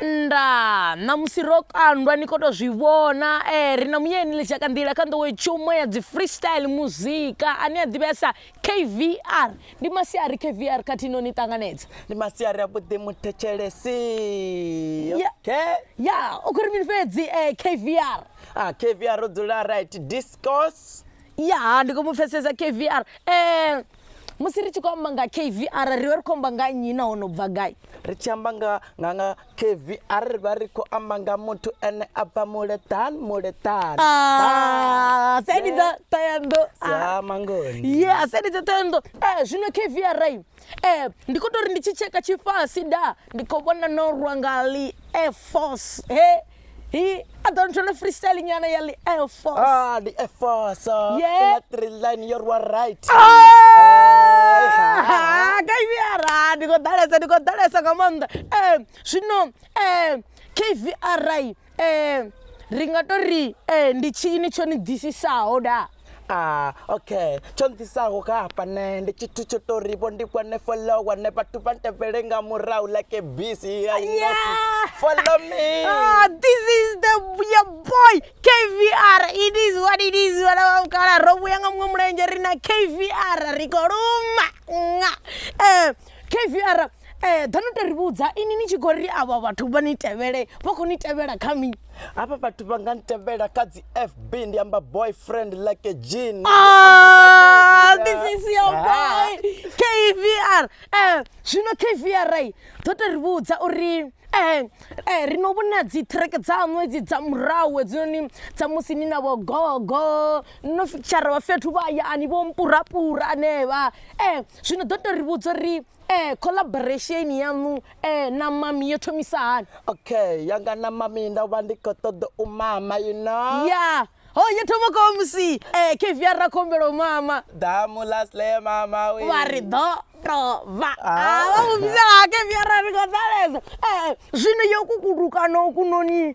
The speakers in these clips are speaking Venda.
Ndaa, ṋamusi ro kandwa ni khou tou zwi vhona. Ee, ri na Muyeni Ḽitshakandila kha nḓowetshumo ya dzi freestyle muzika ane a ḓivhea sa KVR. Ndi masiari KVR khathihi no ni ṱanganedza. Ndi masiari avhuḓi muthetshelesi. Ya, Okay. ya, u khou ri mini fhedzi eh, KVR? Ah, KVR ro dzula right discos. Ya, ndi khou mu pfesesa KVR. Eh, musi ri tshi khou amba nga kvr ri vha ri khou amba nga nnyi nahone u bva gai ri tshi amba nga nga nga kvr ri vha ri khou amba nga muthu ene a bva muleṱani muleṱani Ah, seni dza ṱoyando ya mangoni ye a seni dza ṱoyando Eh, zwino kvr i Eh, ndi khou tou ri ndi tshi tsheka tshifasi da ndi khou vhona no rwa nga li air force he Hi. I don't wanna freestyle nyana ya li Air Force. Ah, the Air Force. Uh, yeah. In three line, you're right. Ah! ah ka iviyara ndi khou ḓalesa ndi khou ḓalesa nga maanḓa um zwino um kvri um ri nga to ri um ndi tshini tsho ni ḓisisaho da Ah, okay tsho nḓisaho kha hafha nṋe ndi tshithu tsho tou ri vho ndi kwane follow wane vhathu vha ntevhele nga murahu like a busy ya Yeah. inosi follow me Ah, this is the your boy kvr it is what it is vhana vha vhukala ro vhuya nga muṅwe mulenzhe ri na kvr ri khou luma nga um kvr eh ḓa no to ri vhudza ini ni tshi khou ri avha vhathu vha ni tevhele vha khou ni tevhela kha mi hafha vhathu vha nga ni tevhela kha dzi fb ndi amba boyfriend like a jean ah, this is your ah. boy kvr eh zwino kvr eh, ḓo to ri vhudza uri eh eh ri no vhona dzi track dza ṅwedzi dza murahu hedzinoni dza musi ni na vho gogo no fitshara vha fhethu vha hayani vho mpurapura anevha eh zwino ḓo to ri vhudza uri eh collaboration yaṋu eh na mami yo thomisa hani okay yanga na mami ndo vha ndi kho ṱoḓa u mama you know ya ho yo thoma kwa musi eh kevr ra khombelo mama damu lasle mama we vha ri ḓo tova Ah. vha mu vhidzela kevr ri khou ḓaleza eh zwino yo kukuluka no kunoni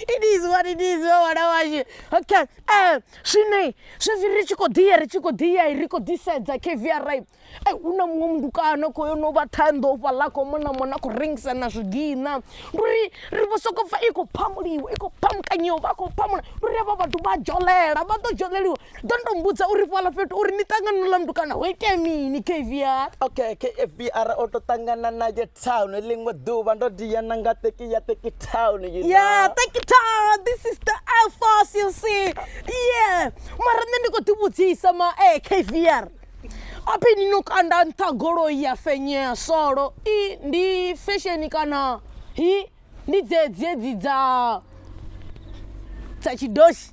It is what it is vhe ṅwana washu okay um zwino zwezwi ri tshi khou ḓi ya ri tshi khou ḓi ya ri khou ḓi sedza kvr e hu na muṅwe mutukana kho yo no vha ṱhanḓo u fhaḽa kho mona mona khou rengisa na zwigiṋa ndi uri ri vho soko pfha i khou phamuliwa i khou phamukanyiwa vha khou phamula ndi uri havha vhathu vha dzholela vha ḓo dzholeliwa ḓo ndo mbudza uri fhala fhethu uri ni ṱangana no lamdukana ho itea mini kvr okay kvr o to ṱangana naye town ḽiṅwe ḓuvha ndo diya na nga teki ya teki town you yeah teki town this is the air force you see yeah mara nṋe ndi khou ḓi vhudzisa ma e eh, kvr aphi ni no kanda nṱha goloi ya fenyea solo i ndi fesheni kana hi ndi dzedzi edzi dza dza tshidoshi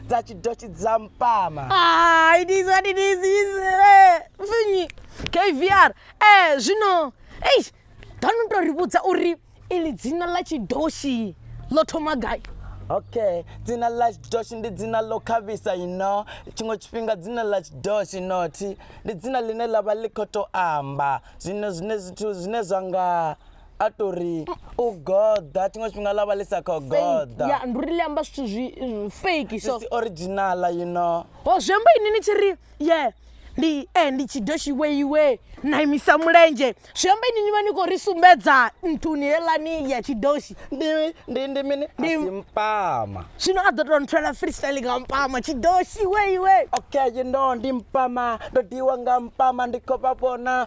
dza tshidoshi dza mpama ah, it is what it is is eh, finyi kvr eh zwino ei dano to ri vhudza uri ili dzina ḽa tshidoshi ḽo thoma gai okay dzina ḽa tshidoshi ndi dzina ḽo khavhisa ino tshiṅwe tshifhinga dzina ḽa tshidoshi nothi ndi dzina ḽine ḽa vha ḽi khou tou amba zwino zwine zwithu zwine zwa nga a to ri u goḓa tshiṅwe tshifhinga ḽa vha ḽi sa khou goḓa ya ndi uri ḽi amba zwithu zwi zwi fake so si original you know ho zwi amba ini ni tshi ri ye ndi e ndi tshi doshi iwe iwe na imisa mulenzhe zwi amba ini ni vha ni khou ri sumbedza nthuni heḽani ya tshidoshi ndi ndi ndi mini a Ndi- si mpama zwino a ḓo tou nthwela freestyle nga mpama tshidoshi iwe iwe okay you know ndi mpama ndo diwa nga mpama ndi khou vha vhona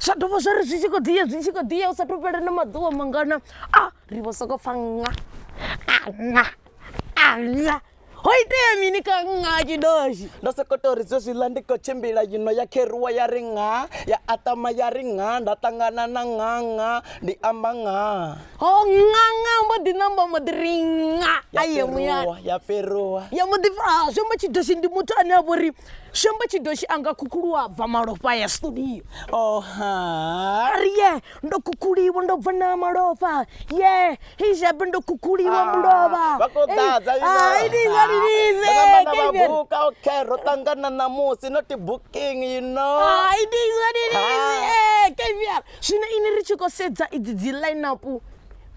zwa dovha zwa ri zwi tshi khou ḓi ya zwi tshi khou ḓi ya u sa thu fhela na maḓuvha mangana a ri vho sokou pfha nga anga anga ho itea mini ka nga tshidoshi ndo sokou tou ri zwezwiḽa ndi khou tshimbila yino ya kheruwa ya ri nga ya atama ya ri nga nda ṱangana na nga nga ndi amba nga ho nga nga mbo ḓi namba mbo ḓi ri nga ya aye muya fheruwa ya fheruwa ya mbo ḓi pfha zwi amba tshidoshi ndi muthu ane a vho ri Shembe tshi do tshi anga khukhulu a bva malofha ya studio oh ha ri ye ndo khukhuliwa ndo bva na malofha ye hi shabe ndo khukhuliwa ah, mulova vha ko ḓadza eh, ah, i ni nga ri lize kana ba buka okay ro tangana na musi not booking you know ah, i ni nga ri lize eh kevia zwino ini ri tshi ko sedza idzi dzi line up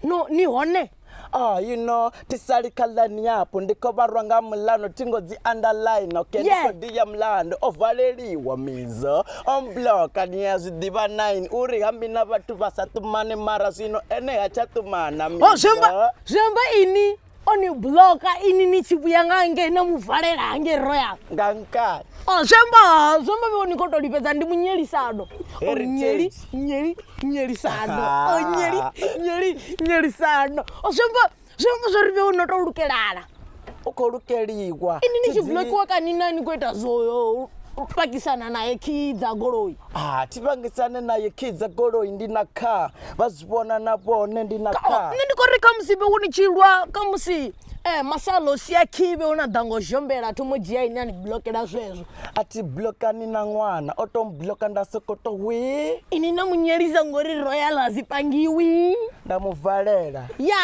no ni hone Oh, you know, tisali khalani yapo ndi khou vharwa nga mulano thingo dzi underline okay ndi Yeah. khou ḓi ya mulando o valeliwa mizo o mbloka ni ya zwi ḓivha 9 uri hambi na vhathu vha sa ṱumane mara zwino ene ha tsha ṱumana Oh, mizo zwiamba zwiamba ini o ni bloka ini ni tshi vhuya nga nge na mu valela hange royal nga nkani o zwiamba zwiamba vho ni khou tou lifhedza ndi munyelisano o Heritage. munyeli nyeri nyeri sano ah. oh, nyeri nyeri nyeri sano o zwi amba zwi amba zwo ri vhe u no tou lukelana u khou lukeliwa ini ni tshi blokiwa kani na ni khou ita zwo pakisana naye kii dza goloi ah, thi pangisane naye kii dza goloi ndi na kha vha zwi vhona na vhone ndi na kha nṋe ndi khou ri kha musibe wo ni tshi lwa kha musi Eh, masalo si a khive una ḓa ngo zhombela a thomo dzhia ine a ni blokela zwezwo a thi blokani na ṅwana o to mbloka nda soko to wi ini na munyelisa ngori royal a si pangiwi nda mu valela ya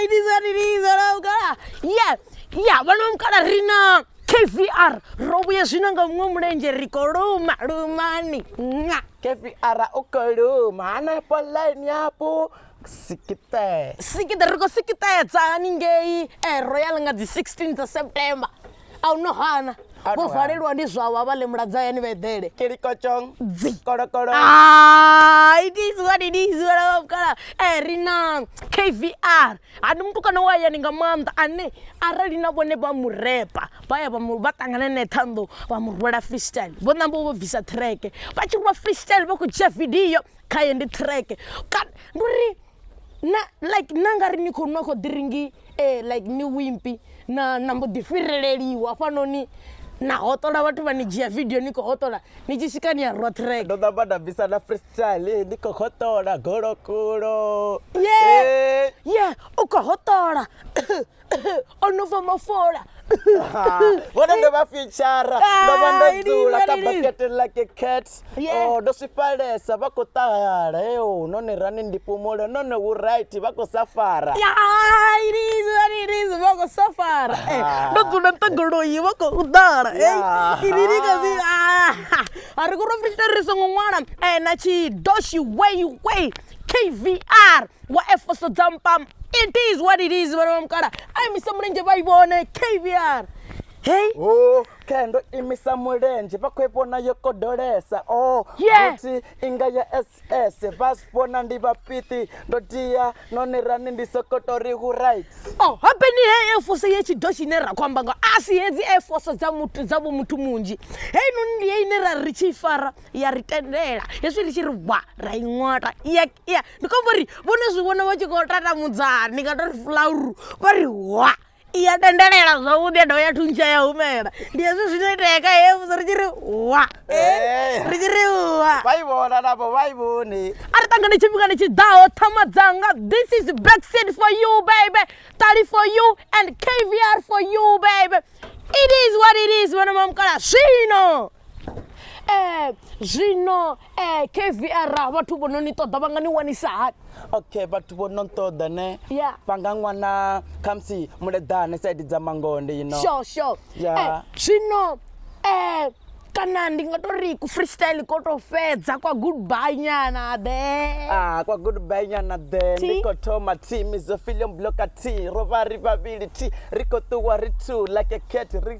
itiza niliza la mukala ya ya vhana vha mukala ri na kvr ro vhuye zwino nga muṅwe mulenzhe ri kho luma lumani nga kpr u kho luma hanefho ḽaini yapo sikite sikite ri khou sikitedza haningei eh, royal nga dzi 16 dza september a hu no hana A hu no vho hana. valelwa ndi zwavho a vha ḽe muladzwa hayani vha eḓele kilikotshong Dzi. kolokolo Ah, it is what it is vhana vha mukala eh, ri na kvr ha ndi mutukana wa hayani nga maanḓa ane arali na vhone vha mu repa vha ya vha mu- vha ṱangana nae ṱhanḓo vha mu rwela freestyle vho namba vho bvisa treke vha tshi rwa freestyle vha khou dzhia vidio khaye ndi treke kana ndi uri na like na nga ri ni khou nwa khou ḓiringi um eh, like ni wimpi na na mbo ḓi fhireleliwa hafhanoni na hotola vhathu vha ni dzhia vidio ni khou hotola ni tshi swika ni ya rwa track ndo ṋamba nda bvisa na freestyle eh, ni khou hotola golokulo ye eh. ye u khou hotola o no fa mafola vhone ndo vha fitshara ndo vha ndo Hai, dzula kha lini, lini. bakete like cat Yeah. Oh, ndo swifhalesa vha khou ṱahala eo none rani ndi pumule none hu right vha khou sa fara irizi vha khou safara Eh, ndo dzula ntangoloyi vha khou ḓala Yeah. iriri kazi a ri kuri fitshara ri songo ṅwala Eh, na tshidoshi way way kvr wa efoso dza mpama it is what it is vhana vha mukala a imisa mulenzhe vha i vhone kvr hei o khe ndo imisa mulenzhe vha khou i vhona yo kodolesa o Yeah. futhi inga ya ss vha zwi vhona ndi vhapiṱi ndo tia none rani ndi sokotori hu right o hapeni hei efoso ye tshido tshine ra khou amba nga a si hedzi efoso dza muthu dza vho muthu munzhi heinoni ndi ye ine ra ri tshi i fara ya ri tendela hezwi ri tshi ri bwa ra i ṅwata iya iya ndi khou amba uri vhone zwi vhona vha tshi khou tatamudzana ndi nga tori fulauru vha ri hwa iya tendelela zwavhuḓi ya dovha ya thuntsha ya humela ndi hezwi zwino itea kha he musi ri tshi ri hwa Eh. ri tshi ri hwa vha i vhona navho vha i vhone a ri ṱangane tshifhingani tshi ḓaho ṱhama dzanga this is backseat for you baby tali for you and kvr for you baby it is what it is vhana mamukala zwino um zwino um kvr vhathu vho no ni ṱoḓa vha nga ni wanisa hani okay vhathu vho no nṱoḓa ne Yeah. vha nga ṅwana khamusi muleḓane saidi dza mangonde you know sure sure Yeah. Eh, zwino um kana ndi nga to ri ku freestyle ko to fhedza kwa goodbye nyana the Ah, kwa goodbye nyana the Thi. ndi khou thoma team izo film bloka t ro vha ri vhavhili t ri khou ṱuwa ri two like a cat ri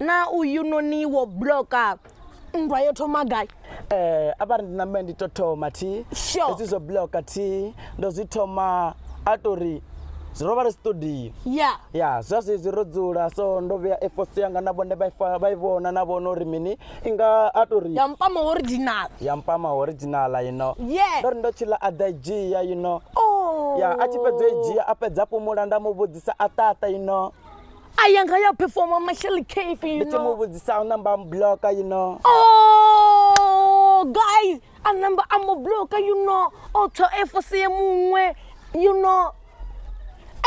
na uyu noni wo bloka nndwa yo thoma gai eh a vha ri ndi nambe ndi to thoma thi Sure. hezwi zwo bloka thi ndo zwi thoma a to ri zwi ro vha ri studio ya ya zwa zwezwi ro dzula so ndo vhea efosi yanga na vhone vha i fa- vha i vhona na vhona uri mini i nga a to ri ya mpama original ya mpama originala you know Yeah. ndo ri ndo tshila a ḓa i dzhia you know oh ya a tshi fhedza i dzhia a fhedza a fhumula nda mu vhudzisa a ṱaṱa you know a ya nga ya performa mashel cafe you know mu vhudzisa u namba mu bloka you know oh guys a namba a mu bloka you know o tho efose ye muṅwe you know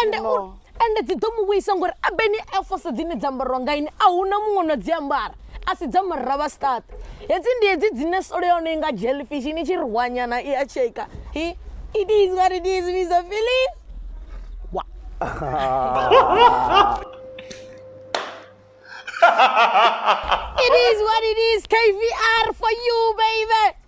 and you know. and dzi ḓo mu vhuisa ngori a beni efose dzine dza ambarwa nga ini a huna muṅwe no dzi ambara a si dza murra vha stat hedzi ndi hedzi dzine solo ya hone i nga jelfish ni tshi rwanyana i a tsheka it is what it is misa feeling wa it is what it is kvr for you baby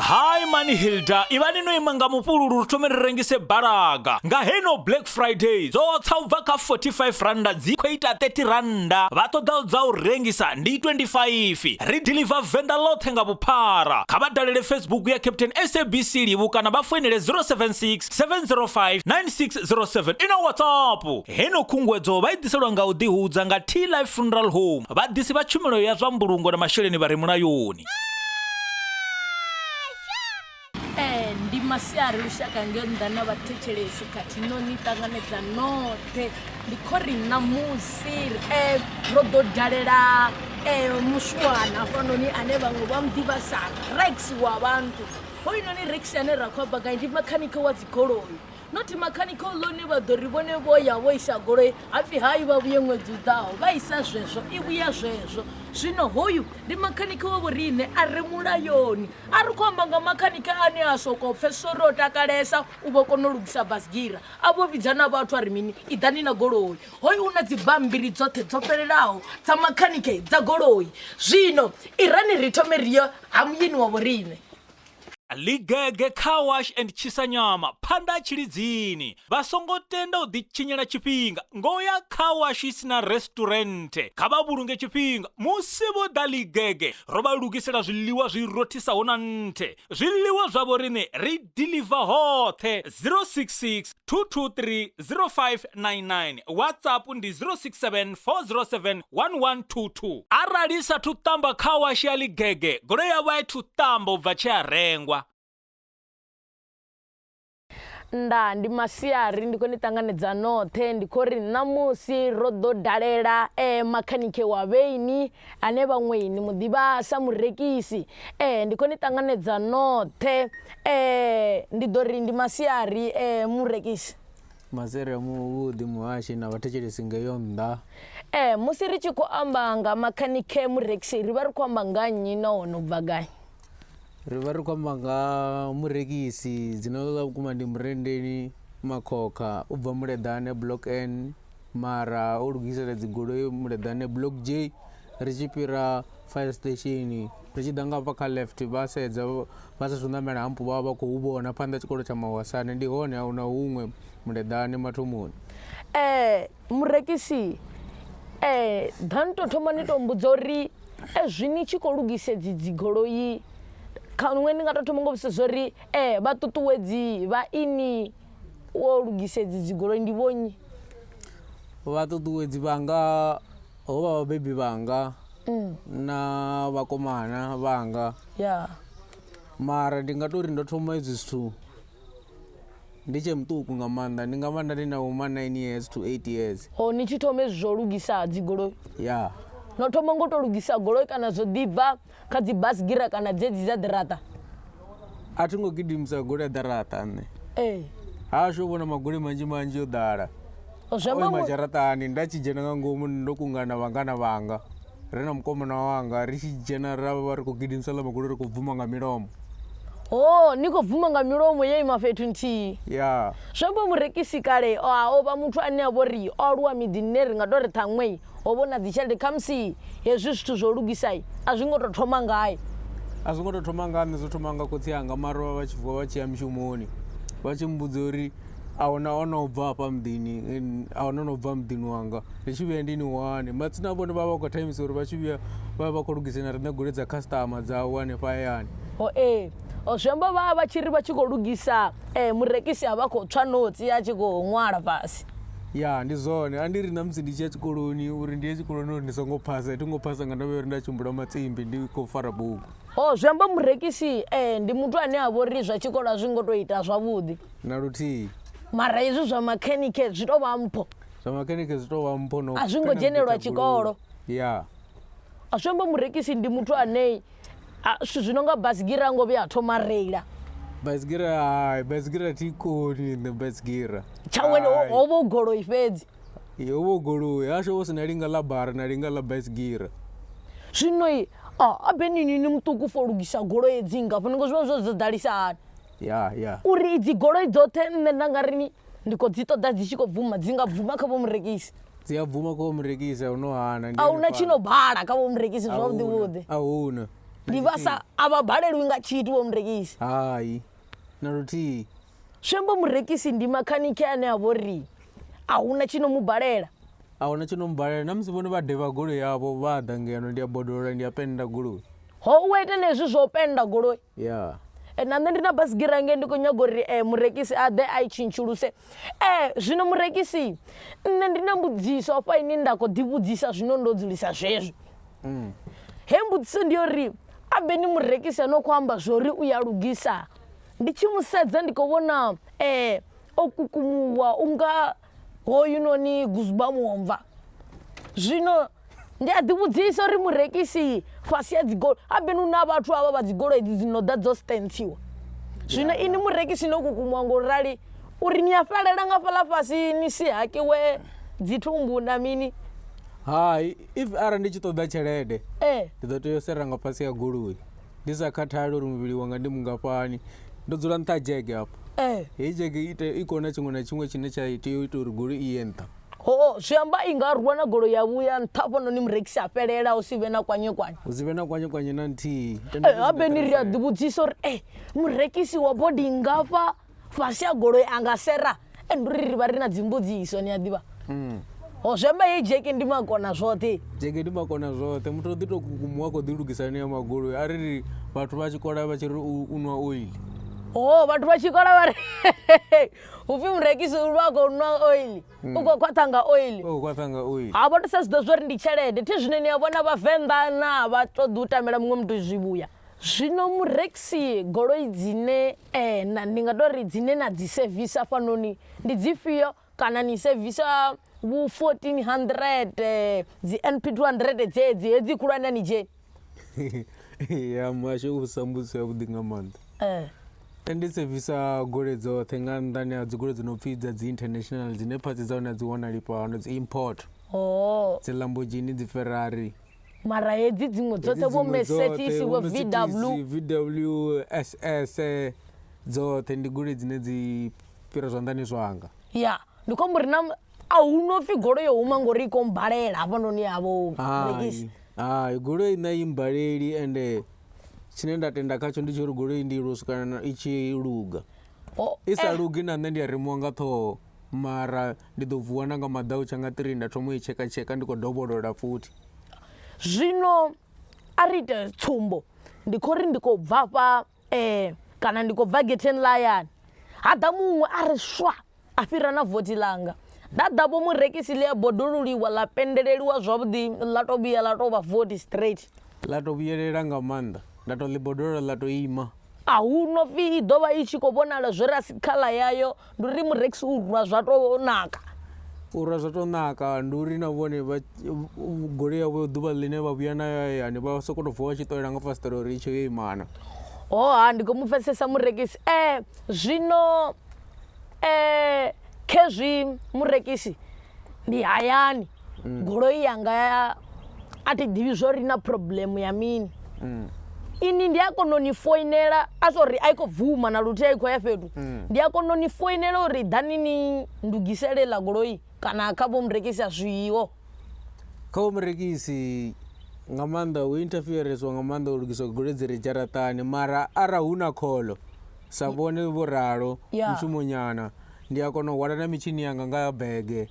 hayi mani hilda ivani no ima nga mufhululu ri thome ri rengise balaga nga heno black friday dzo tsa u bva kha 45 randa dzi khou ita 30 randa vha ṱoḓa dza u rengisa ndi 25 ri deliver venda ḽoṱhe nga vhuphara kha vha dalele facebook ya captain sabc livu kana vha foinele 076 705 9607 ina whatsapp Heno khunguwedzo vha i ḓiselwa nga u ḓihudza nga Tea Life Funeral Home, vhaḓisi vha tshumelo ya zwa mbulungo na masheleni vha re mulayoni. Ee, ndi masiari lushaka ngeo nnḓa na vhathetshelesi khathihi no ni ṱanganedza noṱhe ndi kho ri ṋamusi eh, ro ḓo dalela eh, mushuwana hafhanoni ane vhaṅwe vha muḓivha sa rex wa vhantu hoyunoni rex ane ra khou amba gai ndi makhanike wa dzigoloi not mechanical law ne vha ḓo ri vhone vho ya vho isa goloi hapfhi hai vha vhuye ṅwedzi u ḓaho vha isa zwezwo i vhuya zwezwo zwino hoyu ndi makhanike wa vhoriṋe a re mulayoni a ri khou amba nga makhanike ane a sokou pfesesa uri o takalesa u vho kona u lugisa basigira a vho vhidza na vhathu a ri mini i ḓani na goloi hoyu u na dzibambiri dzoṱhe dzo fhelelaho dza makhanike dza goloi zwino irani ri thome ri yo ha muyeni wa vhoriṋe Ligege Car Wash and Tshisanyama phanḓa ha Tshilidzini vha songo tenda u ḓitshinyela tshifhinga ngo ya Car Wash si na Restaurant. Kha vha vhulunge tshifhinga musi vho ḓa Ligege ro vha lugisela zwiḽiwa zwi rothisaho na nthe. Zwiḽiwa zwavho riṋe ri deliver hoṱhe 066 2230599 whatsapp ndi 0674071122 arali sa thu tamba kha washi ya ligege goloi yavho a i thu tamba u bva tshi a rengwa nda ndi masiari ndi khou ni ṱanganedza noṱhe ndi khou ri ṋamusi ro ḓo dalela eh, makhanike wa vheini ane vhaṅwe ni mu ḓivha sa murekisi eh ndi khou ni ṱanganedza noṱhe eh ndi ḓo ri ndi masiari eh murekisi masere muvhuḓi muhashi na vhathetshelesi ngeyo nnḓa eh musi ri tshi khou amba nga makhanike murekisi ri vha ri khou amba nga nnyi nahone u bva gai ri vha ri khou amba nga murekisi dzina ḽa vhukuma ndi Murendeni Makhokha u bva Muleḓane block N mara o lugisela dzi goloi Muleḓane block J ri tshi fhira fire station ri tshi ḓa nga hafha kha left vha sedza vha sa thu ṋamela hampo vha vha vha khou vhona phanḓa tshikolo tsha Mawasane ndi hone a huna huṅwe Muleḓane mathomoni eh murekisi eh ḓa ni to thoma ni to mbudza uri Ezwi ni tshi khou lugisa edzi dzi goloi kha nṋe ndi nga to thoma ngo vhudzisa zwori eh vha ṱuṱuwedzi vha ini wo lugisa edzi dzi goloi ndi vho nnyi vha ṱuṱuwedzi vhanga ho vha vhabebi vhanga mm. na vhakomana vhanga ya mara ndi nga tori ndo thoma edzi zwithu Ndi tshe muṱuku nga maanḓa ndi nga vha nda ndi na vhoma 9 years to 8 years. Ho ni tshi thoma hezwi zwa u lugisa dzi goloi? Ya. No thoma ngo to lugisa goloi kana zwo ḓi bva kha dzi bus gira kana dzedzi dza ḓiraṱa? A thi ngo gidimisa goloi ya ḓaraṱa nṋe. Ee. Hashu ho vhona magoloi manzhi manzhi yo ḓala. Zwi amba mu. Dzharaṱani nda tshi dzhena nga ngomu ndo kungana vhangana vhanga. ri na mukomana wanga ri tshi dzhena ra vha ri khou gidimisa ḽa magulu ri khou bvuma nga milomo ho ni khou bvuma nga milomo yo ima fhethu nthihi ya zwi amba murekisi kale o a o vha muthu ane a vho ri o aluwa miḓini ne ri nga tou ri ṱhaṅwei ho vho na dzitshelede khamusi hezwi zwithu zwo lugisai a zwi ngo tou thoma ngae a zwi ngo tou thoma nga nṋe zwo thoma nga khotsi anga mara vha vha tshi vuwa vha tshi ya mishumoni vha tshi mmbudza uri a huna o no bva hafha muḓini, a huna o no bva muḓini wanga ri tshi vhuya ndi ni wane. Matsina vhone vha vha vha khou thaimisa uri vha tshi vhuya vha vha vha khou lugisela riṋe goloi dza khasiṱama dzavho hanefha hayani. Ho ee. Zwi amba vha vha tshi ri vha tshi khou lugisa eh, murekisi a vha khou tswa notsi a tshi khou ṅwala fhasi. Ya ndi zwone, a ndi ri na musi ndi tshi ya tshikoloni uri ndi ye tshikoloni uri ndi songo phasa, thi ngo phasa nga ndavha ya uri nda tshimbila matsimbi ndi khou fara bugu. Ho zwi amba murekisi eh, ndi muthu ane a vha uri zwa tshikolo a zwi ngo tou ita zwavhuḓi. na luthihi mara hezwi zwa makhenike zwi tou vha mpho zwa makhenike zwi tou vha mpho no a zwi ngo dzhenelwa tshikolo ya a zwi amba murekisi ndi muthu ane zwithu zwi no nga basigira ngo vhuya a thoma reila basigira hai basigira thi koni nṋe basigira tshawe ho vha u goloi fhedzi ho vha u goloi hasho vho si na linga ḽa bara na linga ḽa basigira zwino a benini ni muṱuku fo lugisa goloi edzi ngafhani ngo zwi vha zwo zwo ḓalisa hani yeah, yeah. uri idzi goloi dzoṱhe nṋe nda nga rini ndi khou dzi ṱoḓa dzi tshi khou bvuma dzi nga bvuma kha vhomurekisi dzi a bvuma kha vhomurekisi a no hana a huna tshi no bala kha vhomurekisi zwavhuḓi vhuḓi a huna ndi vha sa a vha balelwi nga tshithu vhomurekisi hai na luthihi swembo murekisi ndi makhanike ane a vho ri a huna tshi no mu balela a huna tshi no mu balela na musi vhone vha devha goloi yavho vha ḓa ngeno ndi a bodolola ndi a penda goloi ho u ita na hezwi zwo penda goloi Yeah. Eh, na nṋe ndi na basigira hangei ndi khou nyaga uri um murekisi a ḓe a i tshintshuluse um zwino murekisi nṋe ndi na mbudziso afha ine nda khou ḓivhudzisa zwino ndo dzulisa zwezwo mm. he mbudziso ndi uri abe ni murekisi ano khou amba zwori u ya lugisa ndi tshi mu sedza ndi khou vhona um o kukumuwa unga hoyunoni guzuba muomva zwino ndi a ḓivhudzisa uri murekisi fhasi ya dzigoloi habeni hu na vhathu avha vha dzigoloi dzi dzi no ḓa dzo stentsiwa zwino ini murekisi no kukumuwa ngo rali uri ni a fhelela nga fhaḽa fhasi ni si hakiwe dzithumbu na mini hai if arali ndi tshi ṱoḓa tshelede ee ndi ḓo tea u sera nga fhasi ya goloi ndi sa khathali uri muvhili wanga ndi mungafhani ndo dzula nṱha ha dzhege hafho eh heyi dzhege i ite- i kona tshiṅwe na tshiṅwe tshine tsha tea u ita uri goloi i ye nṱha ho zwi amba i nga rwa na golo ya vhuya nṱha hafhanoni murekisi a fhelela hu si vhe na kwanye kwanye hu si vhe na kwanye kwanye na nthihi Tenda Eh, zwi si habe ni ri a ḓi vhudzisa uri e murekisi wa bodi ngafha fhasi ha goloi a nga sera and uri ri vha ri na dzimbudziso ni a ḓivha mm. ho zwemba ye jeke ndi makona zwoṱhe jeke ndi makona zwoṱhe muthu o ḓi tou kukumuwa a khou ḓi lugisela ni ya magoloi a ri vhathu vha tshi kola vha tshi ri u nwa oili o vhathu vha tshi kola vha ri upfhi murekisi u vha khou nwa oili mm. u khou khwaṱha nga oili ha vha to sa zwi ḓo zwo ri ndi tshelede thi zwine ni a vhona vhavenḓa na vha ṱoḓi u tamela muṅwe muthu zwivhuya Zwino mureksi goloi dzine na, ndi nga tou ri dzine na dzi sevisa hafhanoni ndi dzifhio? Kana ni sevisa vhu 1400, dzi NP 200 dzedzi, hedzi khulwane a ni dzheni? Ya muhasho u vhudzisa mbudziso yavhuḓi nga maanḓa. Nṋe ndi sevisa goloi dzoṱhe nga nnḓani ha dzigoloi dzi no pfhi dza dzi international dzine phatsi dza hone a dzi wanali fhano, dzi import. Dzi Lamborghini, dzi Ferrari. mara hedzi dziṅwe dzoṱhe vho mesetsisi vho vw vss dzoṱhe ndi goloi dzine dzi fhira zwanḓani zwanga ya ndi khombo uri na a hu no pfhi goloi yo huma ngori i kombalela hafhanoni yavho rekisi hai goloi na i mbaleli ende tshine nda tenda khatsho ndi tsho uri goloi ndi i lwo swikana i tshi luga i sa lugi na nṋe ndi a remuwa nga ṱhoho mara ndi ḓo vuwa na nga maḓau tsha nga 3 nda thoma u i tshekatsheka ndi khou dovholola futhi zwino a ri ite tsumbo ndi khou ri ndi khou bva fha um kana ndi khou bva getheni ḽa hayani ha ḓa muṅwe a ri swa a fhira na vothi ḽanga nda ḓa vho murekisi ḽi a bodoluliwa ḽa pendeleliwa zwavhuḓi ḽa to vhuya ḽa to vha vothi straight ḽa to vhuyelela nga maanḓa nda to ḽi bodolela ḽa to ima A hu no pfi i ḓo vha i tshi khou vhonala zwo rasi khaḽa yayo, ndi uri mureksi u rwa zwa tou naka. U rwa zwa tou naka, ndi uri na vhone vha goloi yavho ḓuvha ḽine vha vhuya nayo hayani vha sokou tou vuwa vha tshi ṱolela nga fasiṱere uri i tshe yo imana. Hoha ndi khou mu pfesesa murekisi. E, zwino e, khezwi murekisi ndi hayani. goloi yanga ya a thi ḓivhi zwo ri na problem ya mini ini ndi a kona u ni foinela a zwo ri a i khou bvuma na luthihi a i khou ya fhethu ndi a kona u ni foinela uri ḓani ni ndugisele ḽa goloi kana kha vho murekisi a zwiho kha vho murekisi nga maanḓa hu interferesiwa nga maanḓa u lugiswa goloi dzi re dzharaṱani mara arali hu na kholo sa vhone vho ralo Ya. mushumonyana ndi a kona u hwala na mitshini yanga nga bege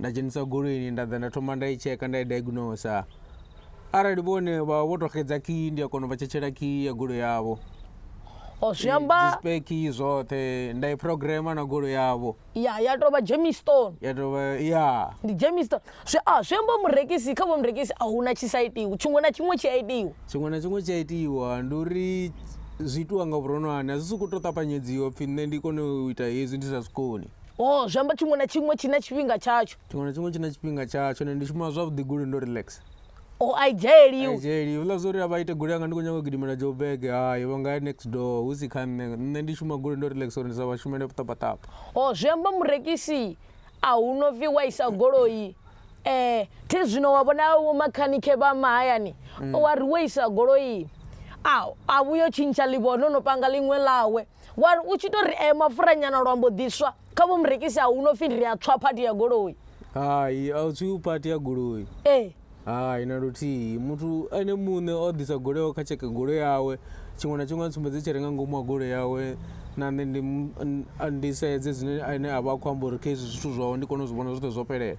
nda dzhenisa goloini nda ḓa nda thoma nda i tsheka nda i diagnosa arali vhone vha vho tou xedza khiyi ndi a kona u vha tshetshela khiyi ya golo yavho o zwi amba speki zwoṱhe nda i programa na golo yavho ya ya tou vha jemistone ya tou vha ya ndi jemistone zwi a zwi amba murekisi kha vho murekisi a huna tshi sa itiwa tshiṅwe na tshiṅwe tshi a itiwa tshiṅwe na tshiṅwe tshi a itiwa ndi uri zwi itiwa nga vhuronwane a zwi sokou tou ṱapanyedziwa pfhi nṋe ndi kone u ita hezwi ndi sa zwi koni o zwi amba tshiṅwe na tshiṅwe tshi na tshifhinga tshatsho tshiṅwe na tshiṅwe tshi na tshifhinga tshatsho ne ndi shuma zwavhuḓi goli ndo relax o a i dzhaeliwi dzheli uḽa zwo uri a vha ite goli yanga ndi khou nyanga u gidimela jobege hayi vha nga ya next door hu si kha nṋe nṋe ndi shuma goli ndo relax uri ndi sa vha shumele ṱapaṱapa o zwi amba murekisi a hu no pfi wa isa goloi um thi zwino wa vhona vho makhanikhe vha mahayani wa ri wo isa goloi a a vhuyo tshintsha ḽivhono no panga ḽiṅwe ḽawe wa ri u tshi to ri eh mapfura nyana lwa mbo ḓiswa kha vho murekisi a hu no pfhi ri a tswa phathi ya goloi hai a u tswi phathi ya goloi ee hai na luthihi muthu ene muṋe o ḓisa goloi yawe kha tsheke goloi yawe tshiṅwe na tshiṅwe a ntsumbedze tshi re nga ngomu ha goloi yawe na nṋe ndi ndi sedze zwine ane a vha a khou amba uri kha hezwi zwithu zwawe ndi kone u zwi vhona zwoṱhe zwo fhelela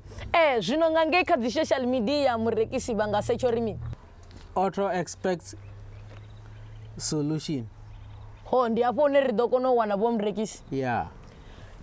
E, zwino nga ngei kha dzisocial media murekisi vha nga setsha uri mini? Auto expects solution. Ho, ndi hafho hune ri ḓo kona u wana vho murekisi. Ya.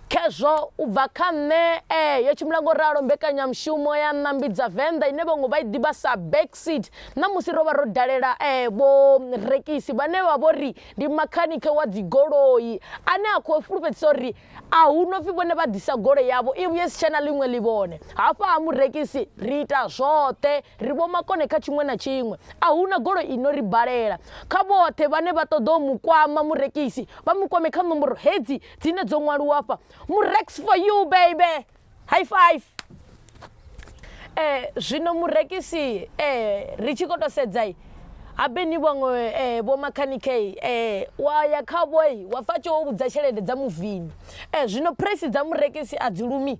Khezwo, u bva kha nṋe, e, yo tshimbila nga u ralo mbekanyamushumo ya ṋambi dza Venḓa ine vhaṅwe vha i ḓivha sa Backseat. Ṋamusi ro vha ro dalela e, vho murekisi vhane vha vho ri ndi makhanikhe wa dzigoloi ane a khou fhulufhedzisa uri A hu no pfi vhone vha ḓisa goloi yavho i vhuye si tshe na ḽiṅwe ḽivhone. Hafha ha murekisi ri ita zwoṱhe, ri vhomakone kha tshiṅwe na tshiṅwe. A hu na goloi i no ri balela. Kha vhoṱhe vhane vha ṱoḓa u mu kwama murekisi, vha mu kwame kha nomboro hedzi dzine dzo ṅwaliwa afha, Murex for you baby! High five. Eh zwino murekisi eh ri tshi kho to sedza habe ni vhaṅwe eh vho makhanikhe eh wa ya kha vhoi wa fa tsho vhudza tshelede dza muvini eh zwino price dza murekisi a dzi lumi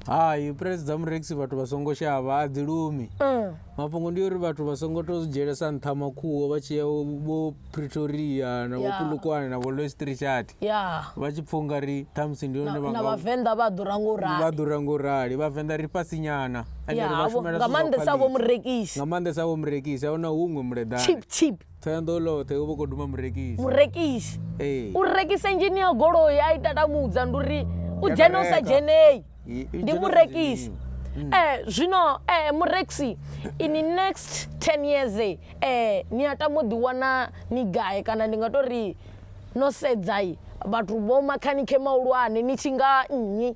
hai price dza murekisi vhathu vha songo shavha a dzi lumi mm. mafhungo ndi uri vhathu vha songo to dzhielesa nṱha makhuwo vha tshi ya vho pretoria na vho Yeah. kulukwane na vho lois richard ya vha tshi pfha ungari ṱhamusi ndi yone na vhanga vhavenḓa vha ḓura ngo vha rali ḓura ngo rali vhavenḓa ri fhasi nyana ende Ya, ri vha havho- shumela nga zwithu zwa maanḓesa vho quality. murekisi nga maanḓesa vho murekisi ahuna huṅwe muleḓani chip chip thoyando loṱhe u vho kho duma murekisi murekisi ee u rekisa engineer goloi a i tatamudza ndi uri u dzhene u sa dzhenei ndi murekisi mm. eh zwino eh mureksi in the next 10 years eh, eh ni a tamo ḓi wana ni gae kana ndi nga to ri no sedzai vhathu vho makhanike mahulwane ni tshi nga nnyi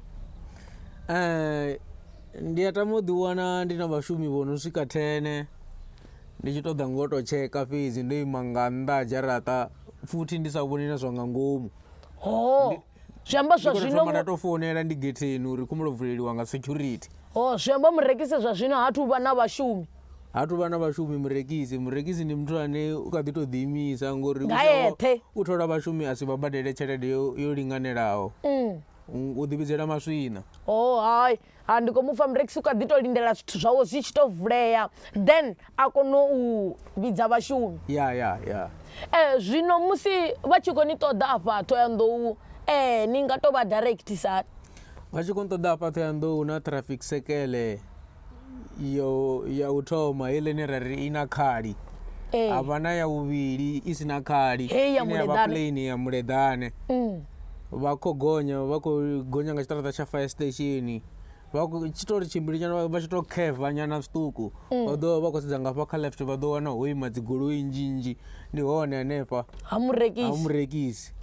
eh ndi a tamo ḓi wana ndi na vhashumi vho no swika 10 ndi tshi ṱoḓa ngo to tsheka fhedzi ndo ima nga nnḓa dzharaṱa futhi ndi sa vhoni na zwa nga ngomu ho zwi amba zwa zwino thoma nda tou founela ndi getheni uri khumulo vuleliwa nga security o zwi amba murekise zwa zwino ha thu vha na vhashumi ha thu vha na vhashumi murekisi murekisi ndi muthu ane u kha ḓi tou ḓiimisa ngori u thola vhashumi a si vha badele tshelede yo linganelaho mm. u ḓivhidzela maswina o hai Ha ndi khou mupfa murekisi u kha ḓi to lindela zwithu zwawe zwi tshi to vulea then a kono u vhidza vhashumi ya ya ya eh zwino musi vha tshi khou ni ṱoḓa afha Ṱhoyandou eh ni nga to vha directisa hani vha tshi khou ṱoḓa afha Ṱhoyandou na traffic sekele yo ya u thoma heiḽa ine ra ri i na khali eh havha na ya vhuvhili i si na khali Heyi ya ine yavha muleḓane. plain ya muleḓane vha khou gonya vha khou gonya nga tshiṱaraṱa tsha fire station vha khou tshi tou ri tshimbili nyana vha tshi tou kheva nyana zwiṱuku mm. vha ḓo vha khou sedza ngafha kha left vha ḓo wana ho ima dzigoloi nnzhi nnzhi ndi hone hanefha ha murekisi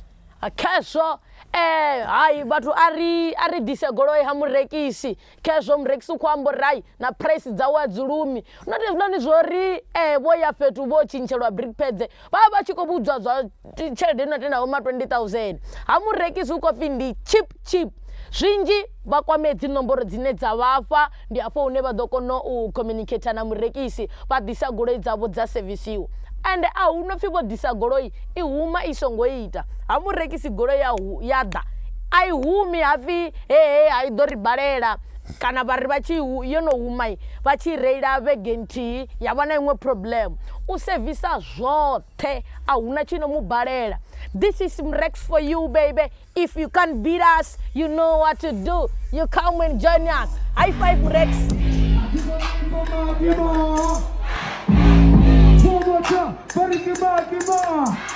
khezwo um eh, hai vhathu a ri ḓise goloi ha murekisi Khezwo murekisi u khou amba uri hai, na phuraisi dzawe a dzi lumi. Not hezwinoni zwa uri vho ya fhethu vho tshintshelwa brick pads, vha vha vha tshi khou vhudzwa zwa tshelede i no tenda vho ma 20,000. Ha murekisi hu khou pfi ndi cheap cheap. Zwinzhi vha kwame dzi nomboro dzine dza vha fha, ndi hafho hune vha ḓo kona u communicator na murekisi, vha ḓisa goloi dzavho dza sevisiwa. Ende a hu no pfi vho ḓisa goloi i huma i songo ita. Ha murekisi goloi ya hu, ya ḓa, a i humi ha pfi, He he ha i ḓo ri balela kana vhari vha tshi yo no huma vha tshi reila vhege nthihi ya vha na iṅwe problem u sevisa zwoṱhe a huna tshi no mu balela this is mrex for you baby if you can't beat us you know what to do you come and join us high five mrex Give